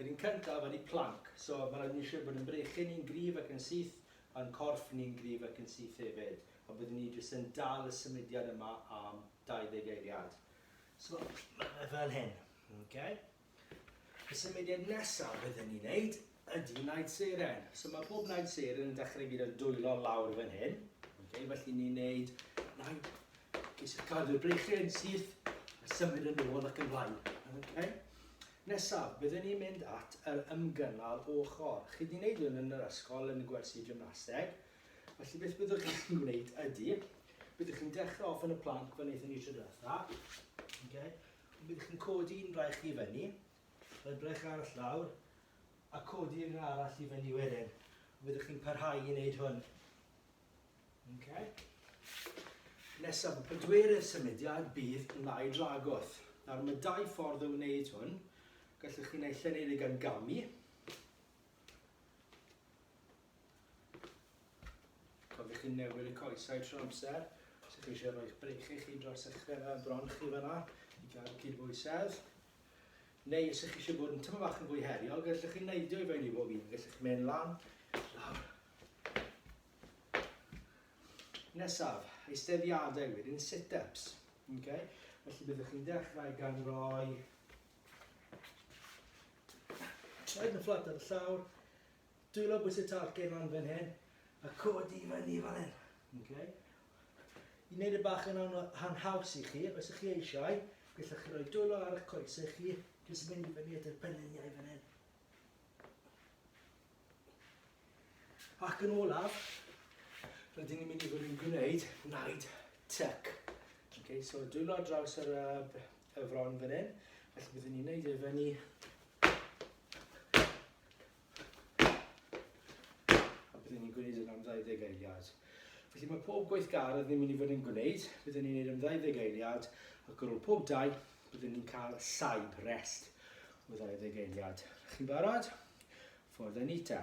Yr un cyntaf ydy planc, so mae'n rhaid i ni siŵr bod ein brechyn ni'n gryf ac yn syth, a'n corff ni'n gryf ac yn syth hefyd, a byddwn ni jyst yn dal y symudiad yma am 20 eiliad. So mae fe fel hyn, ok? Y symudiad nesaf byddwn ni'n neud ydy Night Seren. So mae pob Night Seren yn dechrau gyda dwylo lawr fan hyn. Okay, felly ni'n neud Night, jyst cadw'r brechyn syth, a symud yn ôl ac yn flaen. Okay. Nesaf, byddwn ni'n mynd at yr ymgynnal ochr. Chi wedi gwneud hwn yn yr ysgol yn y gwersi gymnaseg. Felly beth byddwch chi'n gwneud ydy, byddwch chi'n dechrau off yn y planc fan wnaethon ni tro diwetha. Okay. Byddwch chi'n codi un braich i fyny, Edrych ar y llawr a codi un arall i fyny wedyn. Rydych chi'n parhau i wneud hwn. Okay. Nesaf y pedwerydd symudiad bydd yn lai dragwth. Nawr mae dau ffordd o wneud hwn. Gallwch chi naill ai wneud e gan gamu. Cofiwch chi'n newid y coesau trwy amser. Os ydych chi eisiau rhoi'ch breichiau chi dros eich bron chi fanna i gael cydbwysedd. Neu os ych chi eisiau bod yn tyma bach yn fwy heriol, gallwch chi neidio i fewn i bob un. Gallwch chi mynd lan, lawr. Nesaf, eisteddiadau wedyn sit-ups. Okay? Felly byddwch chi'n dechrau gan roi traed yn fflat ar y llawr, dwylo bwys y talcen lan fan hyn, a codi i fyny fel hyn. Okay? I wneud y bach yn ha'n haws i chi, os ych chi eisiau, gellwch chi roi dwylo ar eich coesau chi, jyst mynd i fyny at yr penliniau fan hyn. Ac yn olaf, rydyn ni'n mynd i fod yn gwneud naid tuck. Okay, so dwylo ar draws yr, uh, y fron fan hyn, felly byddwn ni'n neud e fyny A byddwn ni'n gwneud hyn am 20 eiliad. Felly mae pob gweithgaredd ni'n mynd i fod yn gwneud, byddwn ni'n gwneud am 20 eiliad, ac ar ôl pob dau, byddwn ni'n cael saib, rest, o 20 eiliad. Chi'n barod? Ffordd a nita.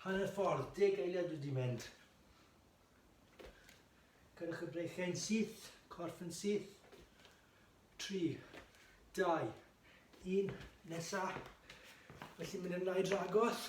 Hanner ffordd, deg eiliad wedi mynd. Gyrwch y breichiau'n syth, corff yn syth. 3, 2, 1, nesa. Felly mynd yn lai dragos.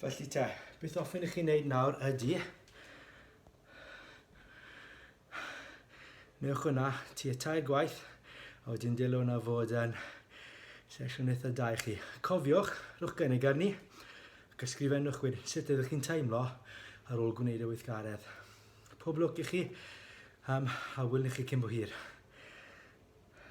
Felly te, beth ofyn i chi wneud nawr ydy newch hwnna ti y tair gwaith a wedyn dylai hwnna fod yn sesiwn eitha da i chi. Cofiwch, rhwch gynnig arni ac ysgrifennwch wedyn sut ydych chi'n teimlo ar ôl gwneud y weithgaredd. Pob lwc i chi um, a wyl i chi cyn bo hir.